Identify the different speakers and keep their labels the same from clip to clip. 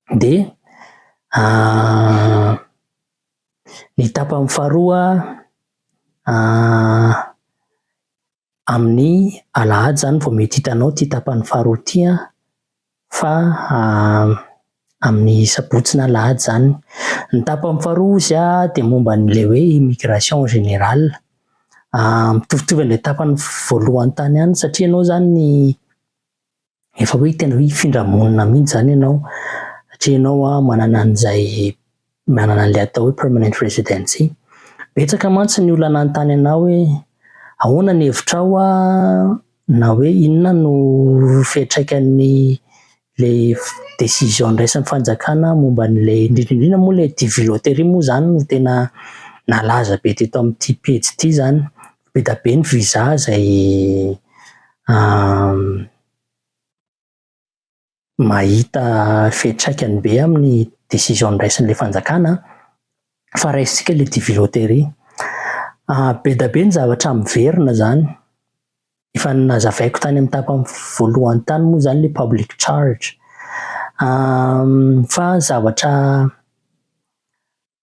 Speaker 1: Dia ah, ny tapany faharoa ah, amin'ny alahady izany vao mety hitanao ity tapany faharoa ity an, fa ah, amin'ny sabotsy na alahady izany. Ny tapany faharoa hozy ah, dia momba an'ilay hoe immigration en général. Ah, mitovitovy amin'ilay tapany voalohany tany ihany satria ianao izany ny. Efa hoe tena hoe hifindra monina mihitsy izany ianao satria ianao an, manana an'izay manana an'ilay atao hoe permanent residency. Betsaka mantsy ny olona nanontany anao hoe ahoana ny hevitrao an, na hoe inona no fiantraikan'ny ilay décision niraisin'ny fanjakana momba an'ilay, indrindra indrindra moa ilay DiviLottery moa izany no tena nalaza be teto amin'ity pejy ity izany, Beda be ny visa izay mahita fiantraikany be amin'ny décision noraisin'ilay fanjakana fa raisintsika ilay TV loterie. Beda be ny zavatra miverina izany, efa nazavaiko tany amin'ny tapany voalohany tany moa izany ilay public charge, fa zavatra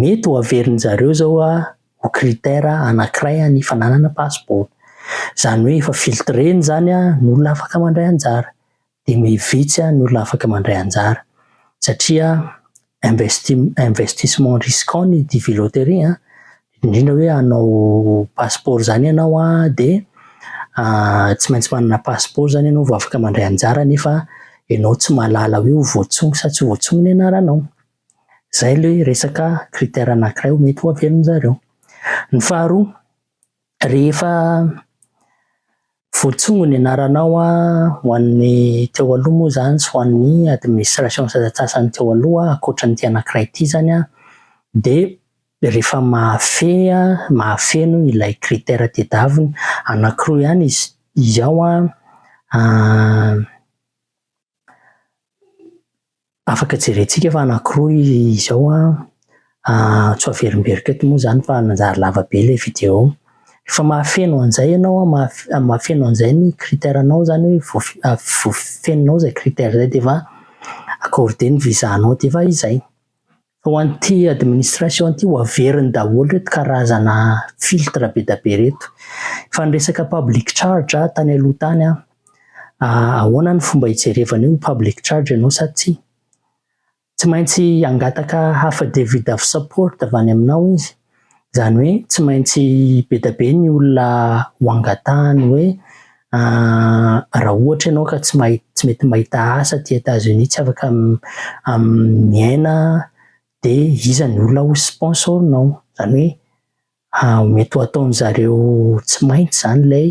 Speaker 1: Mety ho averin'ny zareo zao ho critère anakiray ny fananana pasipaoro. Zany hoe efa filtrena zany ny olona afaka mandray anjara de mi vitsy ny olona afaka mandray anjara satria investi- investissement risquant ny dvi loterie an, indrindra hoe hanao pasipaoro zany ianao an de tsy maintsy manana pasipaoro zany ianao vao afaka mandray anjara nefa ianao tsy mahalala hoe ho voatsongo sa tsy ho voatsongo ny anaranao. Izay ilay hoe resaka critère anankiray hoe mety ho avelon-dry zareo. Ny faharoa, rehefa voatsongo ny anaranao ho an'ny teo aloha moa izany sy ho an'ny administration sasantsasany teo aloha, ankoatra an'ity anankiray ity izany an, dia rehefa mahafehy, mahafeno ilay critère tedaviny, anankiroa ihany izy izy ao an, Afaka jerentsika fa anakiroa izao an, tsy ho averimberiko eto moa izany fa nanjary lava be ilay video. Rehefa mahafeno an'izay ianao an, mahafeno an'izay ny critère anao izany hoe voafenonao izay critère izay dia efa accordé ny visa anao dia efa izay. Fa ho an'ity administration ity ho averiny daholo ireto karazana filtre be dia be ireto. Fa ny resaka public charge tany aloha tany an, ahoana ny fomba hijerevana io public charge ianao sa tsia? Tsy maintsy hangataka affidavit of support avy any aminao izy. Izany hoe tsy maintsy be dia be ny olona ho angatahany hoe raha ohatra ianao ka tsy mahay tsy mety mahita asa aty Etazonia, tsy afaka miaina dia iza ny olona ho sponsor-nao. Izany hoe mety ho ataon'ny zareo tsy maintsy izany ilay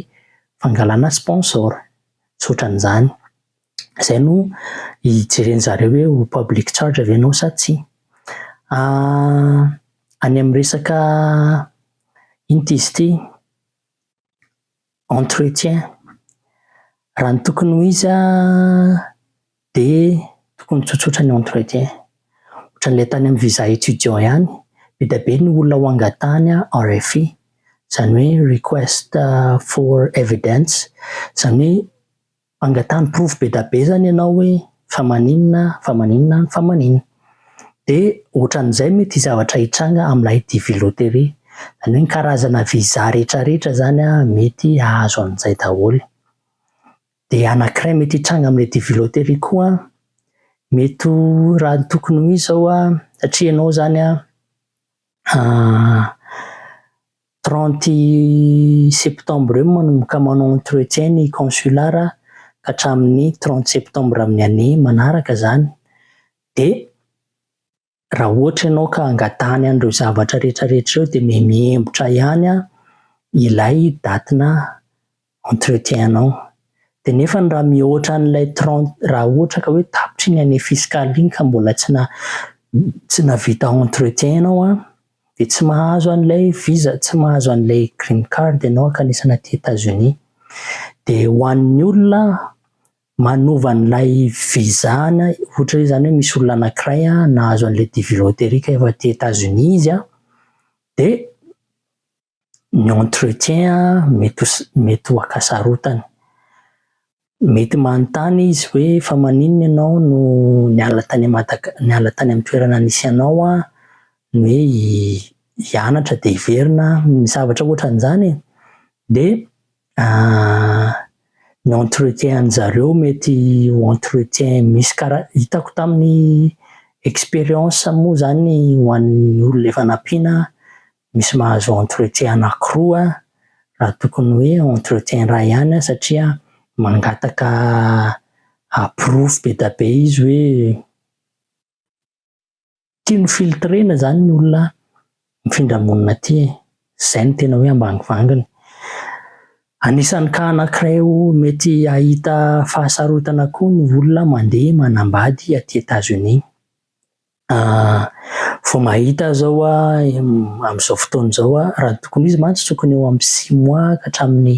Speaker 1: fangalana sponsor, tsy otran'izany. Izay no hijeren'ny zareo hoe ho public charge ve ianao sa tsia. Any amin'ny resaka inona izy ity, entretien, raha ny tokony ho izy an, dia tokony tsotsotra ny entretien. Ohatran'ilay tany amin'ny visa étudiant ihany, be dia be ny olona ho angatahana RFI, izany hoe request for evidence, izany hoe Mangatany porofo be da be zany ianao hoe fa maninona, fa maninona, fa maninona. Dia ohatran'izay mety ny zavatra hitranga amin'ilay DV Lottery. Izany hoe ny karazana visa rehetra rehetra izany an, mety hahazo an'izay daholo. Dia anankiray mety hitranga amin'ilay DV Lottery koa an, mety ho raha ny tokony ho izy izao an, satria ianao izany an, Trente septembre eo manomboka manao entretien ny consulat ka hatramin'ny trente septembre amin'ny année manaraka izany. Dia raha ohatra ianao ka angatahany an'ireo zavatra rehetrarehetra ireo dia mihembotra ihany ilay date-nà. entretien anao dia nefany raha mihoatra an'ilay trente raha ohatra ka hoe tapitra iny année fiscale iny ka mbola tsy na tsy navita entretien ianao an dia tsy mahazo an'ilay visa tsy mahazo an'ilay green card ianao ankanesana aty Etats Unis dia ho an'ny olona manova an'ilay visa na ohatra hoe izany hoe misy olona anankiray an nahazo an'ilay DV lottery ka efa aty Etats Unis izy an dia ny entretien mety ho mety ho ankasarotany. Mety manontany izy hoe fa maninona ianao no niala tany Madagasi- niala tany amin'ny toerana nisy anao an, ny hoe hianatra dia hiverina ny zavatra ohatran'izany e! dia ny entretien an'i zareo mety ho entretien misy kara- hitako tamin'ny experience moa izany ho an'ny olona efa nampiana Misy mahazo entretien anakiroa raha tokony hoe entretien iray ihany satria mangataka aporofo be dia be izy hoe tia ny filtre-na izany ny olona mifindra monina aty e! izay no tena hoe ambany vanginy. Anisan'ny cas anakiray mety hahita fahasarotana koa ny olona mandeha manambady aty Etazonia. Vao mahita azy aho amin'izao fotoana izao raha ny tokony ho izy mantsy tokony eo amin'ny six mois ka hatramin'ny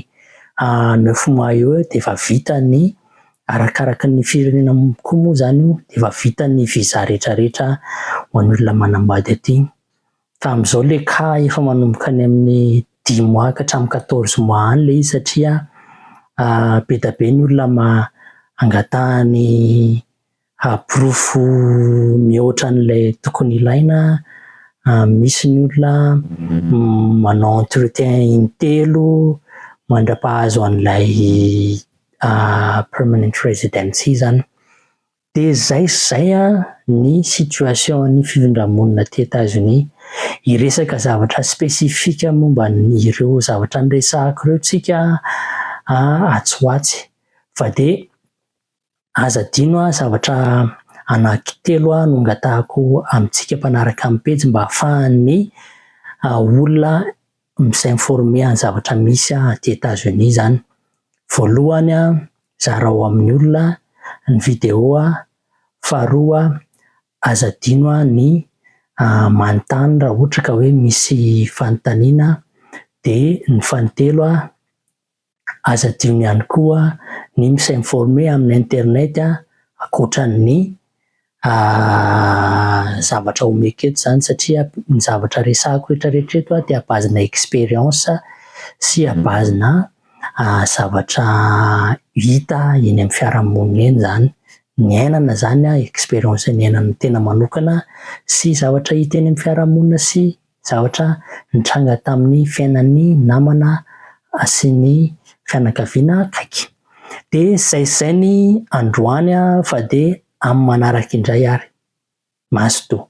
Speaker 1: neuf mois eo eo dia efa vita ny arakaraky ny firenena koa moa izany io dia efa vita ny visa rehetrarehetra ho an'olona manambady aty fa amin'izao ilay cas efa manomboka any amin'ny dix mois ka hatramin'ny quatorze mois any ilay izy satria be dia be ny olona angataha ny haporofo mihoatra an'ilay tokony ilaina, misy ny olona manao entretien intelo mandra-pahazo an'ilay permanent residency izany. Dia izay sy izay ny situation-n'ny fifindra-monina aty Etazonia. Hiresaka zavatra spécifique momba an'ireo zavatra niresahako ireo tsika atsy ho atsy fa dia Aza adino an, zavatra anaky telo an no angatahako amintsika mpanaraka ny pejy mba afahan'ny olona mi-s'informer an'ny zavatra misy aty Etats-Unis zany. Voalohany an, zarao amin'ny olona ny video an, faharoa an, aza adino an ny manontany raha ohatra ka hoe misy fanontaniana, dia ny fahatelo an, Aza adino ihany koa ny mi-s'informer amin'ny internet ankoatran'ny zavatra omeko eto izany satria ny zavatra resahiko rehetrarehetra eto dia à base-na expérience sy à base-na zavatra hita eny amin'ny fiarahamonina eny izany. Niainana izany aho, expérience niainana tena manokana sy zavatra hita eny amin'ny fiarahamonina sy. Zavatra nitranga tamin'ny fiainan'ny namana sy ny fianakaviana akaiky. Dia saizay ny androany fa dia amin'ny manaraka indray ary. Mazotoa.